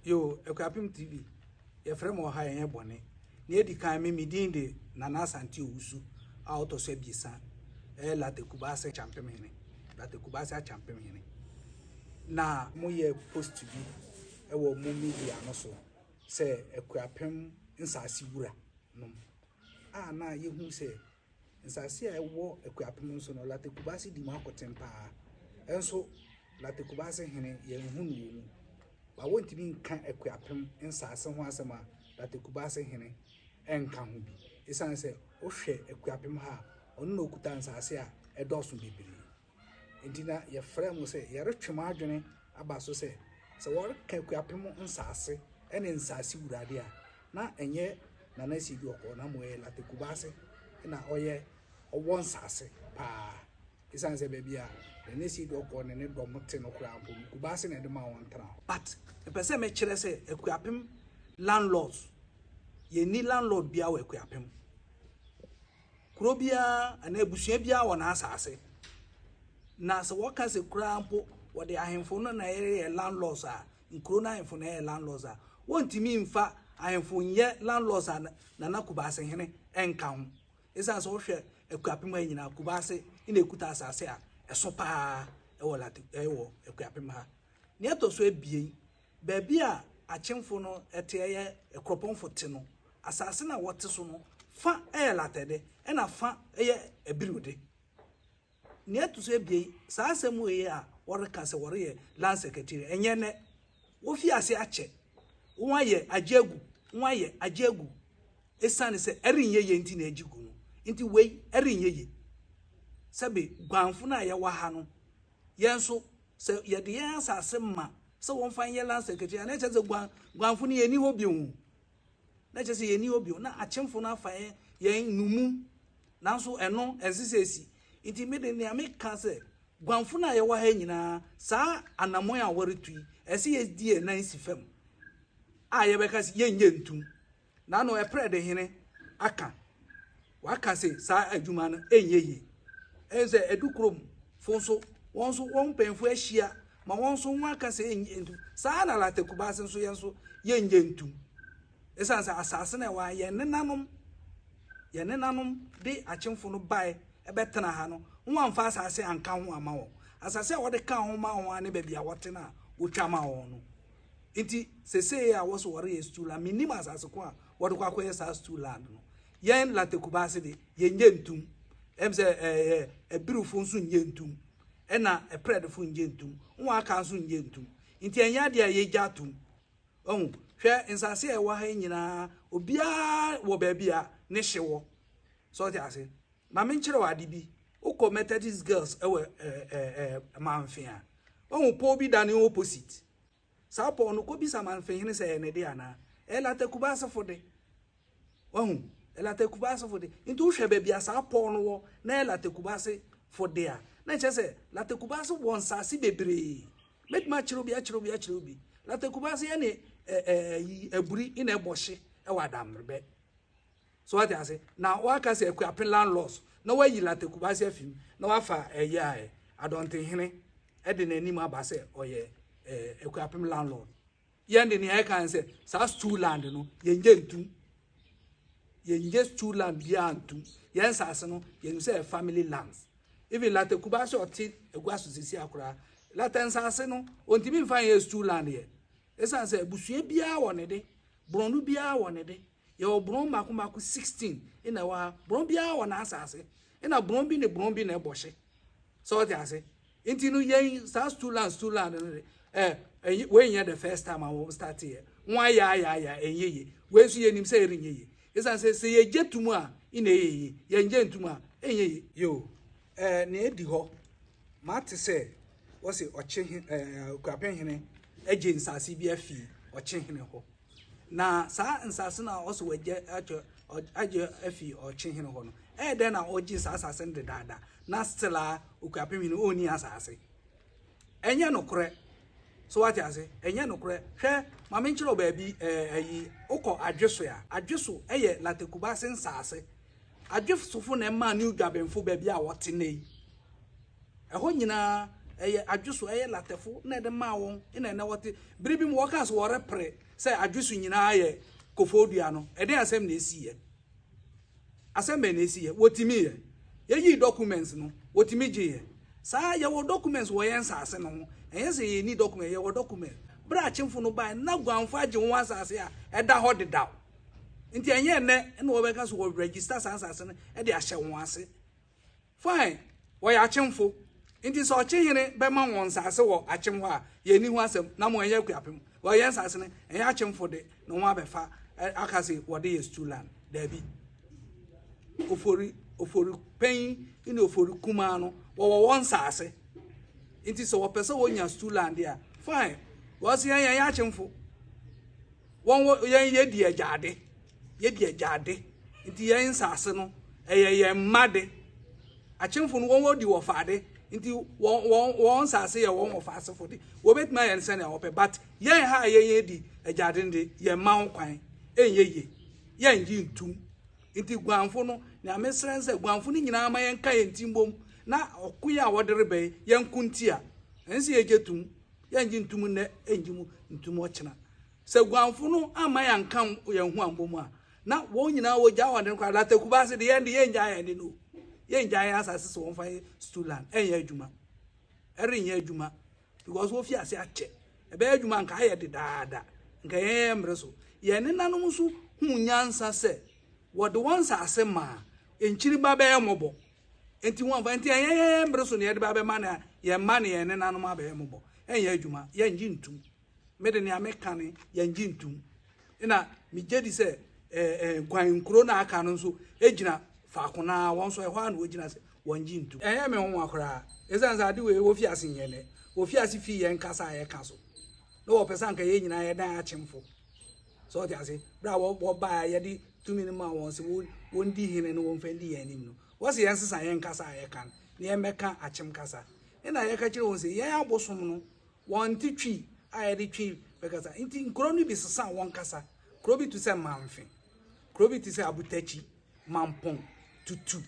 yo Akuapem TV yɛfrɛ me ɔha ɛnyɛ bɔne na ɛdi kan me medin de Nana Asante Owusu a ɔtɔ so abiɛsa ɛyɛ Lata Kubase Kyampem Hene Lata Kubase Akyampem Hene na moyɛ post bi ɛwɔ mo media no so sɛ Akuapem nsase wura nom a na yɛhu sɛ Nsase a ɛwɔ Akuapem nso no, Latte Kubase di mu akoten paa. Nso, Latte Kubase hene, yɛnhu no wɔ mu. Ba wontumi nka Akuapem nsase ho asɛm a Latte Kubase hene nka ho bi. Esiane sɛ wohwɛ Akuapem ha a, ɔno na okuta nsase a ɛdɔɔso bebree. Enti na yɛfrɛɛ mo sɛ yɛretwe mo adwene aba so sɛ, sɛ wɔreka Akuapem nsaase ne nsaase wura de a, na ɛnyɛ Nana Sii Duɔkɔɔ na mmom ɛyɛ Late Kubaase na ɔyɛ ɔwɔ nsaase paa. Esiane sɛ baabi a Nana Sii Duɔkɔɔ ne ne dɔm te no koraa mpo no, Kubaase na ɛde maa wɔn tena hɔ. But mepɛ sɛ mekyerɛ sɛ Akuapem landlords, yɛnni landlord biara wɔ Akuapem. Kuro biara anaa abusua biara wɔ n'asase. Na sɛ wɔka sɛ koraa mpo wɔde ahemfo no na ɛyɛ landlords a nkuro no ahemfo na ɛyɛ landlords a wɔntumi mfa ahemfo nyɛ landlords a nana kubaase hene ɛnka ho ɛsiane sɛ wohwɛ akuapem ha nyinaa kubaase na ɛkuta asase a ɛso paa ɛwɔ late ɛwɔ akuapem ha nea ɛtɔ so abien baabi a akyemfo no te yɛ kuropɔnfo te no, asase no a wɔte so no fã yɛ latɛ de, ɛnna fã yɛ abirew de. Nea ɛto so abien, saa asɛm wei a wɔreka sɛ wɔreyɛ Land Secretariat, ɛnyɛ nnɛ. Wofii ase akyɛ, wɔayɛ, agye agu, wɔayɛ, agye agu. Esiane sɛ ɛrenyɛ yie nti na agye gu no nti, wei ɛrenyɛ yie. Sɛbe guanfo no a yɛwɔ ha no Yɛn nso, sɛ yɛde yɛn asase ma sɛ wɔmfa nyɛ land secretary a, na ɛkyerɛ sɛ guan guanfo no yɛnni hɔ bio. Na ɛkyerɛ sɛ yɛnni hɔ bio. Na akyemfo no afa yɛn yɛn nnommum. Nanso ɛno ɛnse sɛ esi. Nti me de nea meka sɛ guanfo no a yɛwɔ ha nyinaa saa anammɔn a wɔretu yi, ɛsɛ yɛdi yɛn nan si fam a yɛbɛka sɛ yɛnyɛ ntum. Nano ɛprɛ de hene aka waka se saa adwuma no ɛnyɛ yie ɛne sɛ ɛdu kurom fo nso wɔn nso wɔn mpanyinfo ahyia ma wɔn nso wɔn aka sɛ ɛnyɛ ntum saa na lata kubaase nso yɛn nso yɛnyɛ ntum ɛsan sɛ asaase na ɛwɔ yɛn nenanom yɛn nenanom de akyemfo no bae ɛbɛtena ha no wɔn amfa asaase anka ho ama wɔn asaase a wɔde ka ho ma wɔn ne baabi a wɔte no a wɔtwa ma wɔn no Nti sesei a wɔse wɔreyɛ stool a mennim asase ko a wɔde kɔ akɔyɛ saa stool land no. Yɛn Late Kubaase de yɛnyɛ ntum. Ɛm sɛ ɛɛ Abirifo nso nyɛ ntum. Ɛna Ɛprɛdefo nyɛ ntum. Wɔn aka nso nyɛ ntum. Nti ɛnyɛ adeɛ a yɛgya atom. Ɔhu, hwɛ nsase a ɛwɔ ha yi nyinaa obiara wɔ baabi a ne hye wɔ. Sɛ ɔte ase. Ma menkyerɛ wo ade bi. Wokɔ Methodist Girls ɛwɔ ɛɛ ɛɛ Manfe a. Ɔhu pɔw bi da ne opposite. Saa pɔw no, kobisa Manfehene sɛ ɛyɛ ne de anaa. Ɛyɛ Lata Kubaasefo de. Wahu? Ɛyɛ Lata Kubaasefo de. Nti wohwɛ baabi a saa pɔw no wɔ na ɛyɛ Lata Kubaasefo de a, na ɛkyerɛ sɛ Lata Kubaase wɔ nsase bebree. Mɛtumi akyerɛw bi, akyerɛw bi, akyerɛw bi. Lata Kubaase ɛne ɛɛ ɛyi, Aburi na ɛbɔ hye wɔ Adammerbɛ. So wate ase? Na waka sɛ Akuapem landlords na wayi Latte Kubasi afi mu na wafa ɛyɛ a Adɔntenhene ɛde n'anim aba sɛ ɔyɛ ɛɛ Akuapem landlord. Yɛn de nea ɛka sɛ saa stool land no yɛn gye ntum. Yɛn gye stool land biara ntum. Yɛn nsaase no yɛn sɛ family lands. Even Latte Kubasi ɔte agua so sisi akora. Latte nsaase no ontimi nfa yɛ stool land yɛ. Esan sɛ abusua biara wɔ ne de, borɔno biara wɔ ne de. Yɛwɔ borɔn mmaako mmaako sixteen na ɛwɔ ha. Borɔn biara wɔ n'asaase. Ɛna borɔn bi ne borɔn bi na ɛbɔ hye. Sɛ ɔte ase. Nti no yɛn saa stool land stool land no de ɛɛ eh, wei nyɛ the first time a wɔn start yɛ. Wɔn ayɛ ayɛ ayɛ ɛnyɛ yie. Wei nso yɛnim sɛ ɛrenyɛ yie. Esan sɛ sɛ yɛgye tum a ɛna ɛyɛ yie. Yɛngye ntum a ɛnyɛ yie. Yoo, ɛɛ nea edi hɔ, mate sɛ wɔsi ɔkye he ɛɛ Akuapem hene agye nsaase bi afi ɔkye hene hɔ. Na saa nsase no a ɔsɛ wɔagye atwa agye afi ɔkye hene hɔ no ɛyɛ dɛn na ɔgye saa asase no dedaada na still a okuapem hene ɔnni asase ɛnyɛ nokorɛ so wate ase ɛnyɛ nokorɛ hwɛ maame nkyerɛ wo baabi ɛyi eh, wokɔ adweso a adweso ɛyɛ latekubase nsase adwesofo na ɛma ne dwabenfo baabi a wɔte na yi Ɛhɔ nyinaa ɛyɛ adweso, ɛyɛ latɛfo na ɛde maa wɔn na ɛnɛ wɔte. Bere bi mu wɔkaa sɛ wɔrepere sɛ adweso nyinaa yɛ kofoo dua no, ɛdɛn asɛm na esiiɛ? Asɛm bɛn na esiiɛ? Wɔtumi yɛ. Yɛyii documents no, wɔtumi gyeeɛ. Saa yɛwɔ documents wɔ yɛn nsase no ho, ɛnyɛ sɛ yɛnni documents, yɛwɔ documents. Bere a akyemfo no bae no, na guanfo agye wɔn asase a ɛda hɔ dedaw. Nti ɛnyɛ ɛnnɛ na wɔbɛka sɛ wɔregister saa nsase no de ahyɛ wɔn ase. Fine, wɔyɛ akyemfo, nti sɛ ɔkyehene bɛma wɔn nsase wɔ akyem hɔ a, yɛnni ho asɛm, na mo ɛnyɛ akuapem. Well, yɛn nsase no, ɛnyɛ akyemfo de na wɔn abɛfa ɛ, aka se wɔde yɛ stew land. Daabi. Ofori, Ofori panyin ne Ofori kumaa no, wɔwɔ wɔn nsase, nti sɛ wɔpɛ sɛ wɔnya stew land de a, fine, because yɛn, yɛnyɛ akyemfo. Wɔn wɔ, yɛn yɛdi agyaade. Yɛ de agya ade nti yɛn nsase no ɛyɛ yɛn mma de. Akyemfo no wɔn wɔdi wɔfa ade nti wɔn wɔn wɔn nsase yɛ wɔn wɔfa asefo de. Wɔbɛtumi ayɛ no sɛnea wɔpɛ but yɛn ha a yɛn yɛn di agya ade de yɛn mma ho kwan ɛnyɛ yie yɛn ngye ntum nti guanfo no nea mesrɛ nsɛ guanfo no nyinaa ma yɛn ka yɛn ti mbom na ɔko yɛ a wɔde rebɛn yɛn ko nti a ɛnsɛ yɛgye tum yɛn ngye ntum nnɛ ɛngye mu ntum ɔkyena Sɛ guanfo no amma yɛanka yɛn ho ammɔ mu a, na wɔn nyinaa wɔgyaa wɔn ade no koraa. Daa takuba ase de, yɛn de, yɛngyaa yɛn ade no o. Yɛngyaa yɛn asase sɛ wɔmfa yɛn Stuland. Ɛrenyɛ adwuma. Ɛrenyɛ adwuma. Because wɔfi ase akyɛ. Ɛbɛyɛ adwuma anka ayɛ dedaada. Anka yɛn yɛn mmere so. Yɛn nenanom nso huu nyansa sɛ wɔde wɔn nsase maa nkyiri ba bɛyɛ mmɔbɔ. Enti wɔmfa, enti ɛnyɛ yɛn yɛn mmere so na yɛde ba bɛma na yɛn mma ne yɛn nenanom abɛyɛ mmɔbɔ. Ɛnyɛ adwuma. Yɛngye ntum. me de nea meka ne yɛngye ntom na megye di sɛ nkwan nkuro na aka no nso gyina faako no ara wɔn nso ɛhɔ ara na wɔgyina sɛ wɔngye ntom ɛyɛ me nwonwa koraa ɛsiane sɛ ade wei wɔfi ase nyɛ nɛ wɔfi ase fii yɛn kasa a yɛka so na wɔpɛ sɛ anka yɛn nyinaa yɛdan akyemfo sɛ ɔte ase berɛ a wɔbaa a yɛde tumi no ma wɔn sɛ wɔndi hene no wɔmfa ndi yɛn anim no wɔse yɛn sesa yɛn kasa a yɛka no na yɛmmɛka akyem kasa ɛna yɛka kyerɛ wɔn sɛ yɛn abosom no Wɔnte Twi a yɛde Twi bɛkasa, enti nkuro no bi sesaa wɔn kasa. Kuro bi te sɛ Mamfe, kuro bi te sɛ Abutakyi, Mampong, Tutu,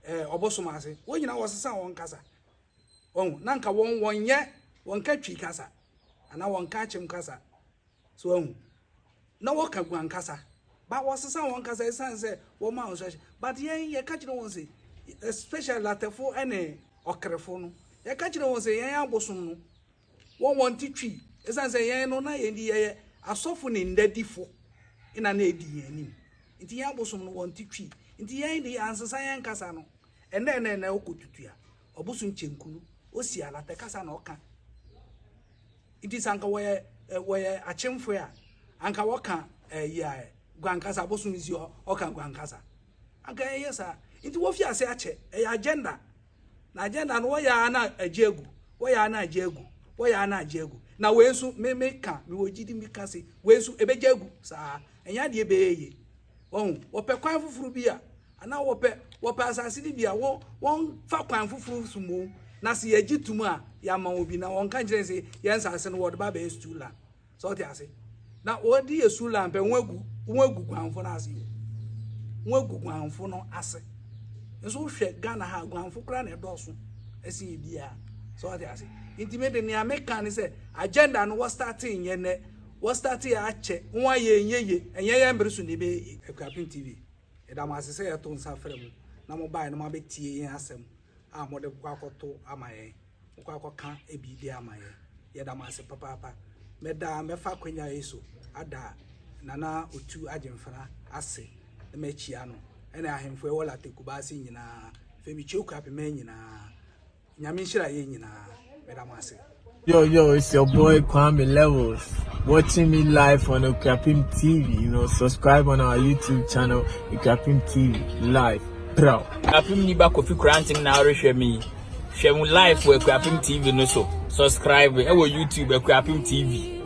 eh, Ɔbosom ase, wɔn nyinaa wɔsesaa wɔn kasa. Wɔn, na nka wɔn, wɔnyɛ, wɔnka Twi kasa, anaa wɔnka Akyem kasa. So wahu? Na wɔka gu ankasa. But wɔsesa wɔn kasa esiane sɛ wɔma instruction. But yɛn yɛka kyerɛ wɔn sɛ especially latɛfo ne ɔkrefo no yɛka kyerɛ wɔn sɛ yɛn abosom no wɔn wɔn ti twi esiane sɛ yɛn no na yɛn di yɛyɛ asɔfo ne ndadifo na na edi yɛn anim nti yɛn abosom no wɔn ti twi nti yɛn de ansesa yɛn kasa no ɛnna ɛnna ɛnna ɔkɔ tutua ɔbosom kyɛnku no osi alatɛ kasa na ɔka. Nti sɛ anka wɔyɛ eh, wɔyɛ akyemfoe a, anka wɔka eh, yia eh, guankasa, abosom nsi hɔ, ɔka guankasa. Anka ɛyɛ saa. Nti wofi ase akyɛ, ɛyɛ agenda. Na agenda no wɔyɛ ara na agye agu, wɔyɛ ara na agye agu, wɔyɛ ara na agye agu. Na wei nso, me me ka, mewɔ gyidi me ka se, wei nso ɛbɛgye agu saa. Ɛnyɛ adeɛ bɛyɛ yie. Wɔn wɔpɛ kwan foforɔ bi a anaa wɔpɛ wɔpɛ asase no bi a wɔn wɔmfa kwan foforɔ so mmom na sɛ yɛgye tom a yɛama obi na wɔnka nkyerɛ sɛ yɛn nsase no wɔde ba bɛyɛ stool land sɛ ɔte ase na wɔde yɛ stool land pɛ wɔn agu wɔn agu guanfo no ase wɔn agu guanfo no ase nso wohwɛ Ghana ha guanfo koraa na ɛdɔɔso ɛsen yɛ biara sɛ ɔte ase nti me de nea meka ne sɛ agenda no wɔstartee nyɛ nɛ Wɔ start yɛ akyɛ ho a yɛ nyɛ ye ɛnyɛ yɛ mbre so na yɛbɛ yɛ ye Akuapem TV yɛ da mo ase sɛ yɛ to nsa frɛ mo na mo bae na mo abɛ tie yɛn asɛm a mo de kɔ akɔ to ama yɛn mo kɔ akɔ ka ebi de ama yɛn yɛ da mo ase papaapa mɛ da mɛ fa akwanya yɛ so ada nana otu agyemfana ase na mɛ kyia no ɛna ahemfo ɛwɔ late kubase nyinaa fɛ mi kyia Akuapem nyinaa Nyame nhyira yɛn nyinaa. Meda mo ase. Yo, yo, it's your boy Kwame Levels. Watching me live on Okrapim TV. You know, subscribe on our YouTube channel, Okrapim TV Live. Bro. Okrapim ni ba kofi kurantim na ɔrehwɛ me. Hwɛ mu live wɔ Okrapim TV no so. Subscribe ɛwɔ YouTube Okrapim TV.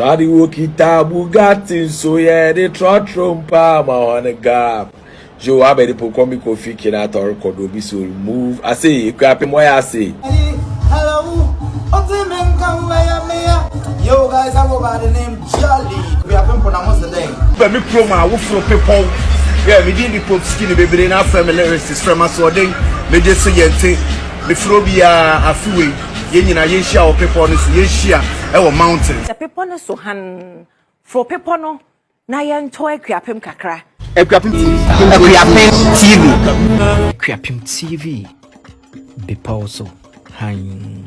Shadi wo kita Bugatti nso yɛ de trɔtrɔ mpa ma hɔn gap. Yo abɛde po kɔmi kofi kina atɔr kɔdo bi so move ase ekɔ apem wɔyɛ ase. Hello, ɔte me nka ho ɛyɛ me ya. Yo guys, I go by the name Jolly. Kofi apempo na mo se dɛn? Bɛ me kurom a woforo bepɔw yɛ me din de pop skin bebree na afrɛ me lyrics frɛ m'asoɔden megye so yɛnte mefrɛ obiara afe wei. Yɛn nyinaa yɛnhyia wɔ bepɔ no so. Yɛnhyia wɔ mountain. Hyɛ bepɔ no so hann. Foro bepɔ no na yɛntɔ Akuapem kakra. Akuapem TV. Akuapem TV. Akuapem TV. Bepɔw so hann.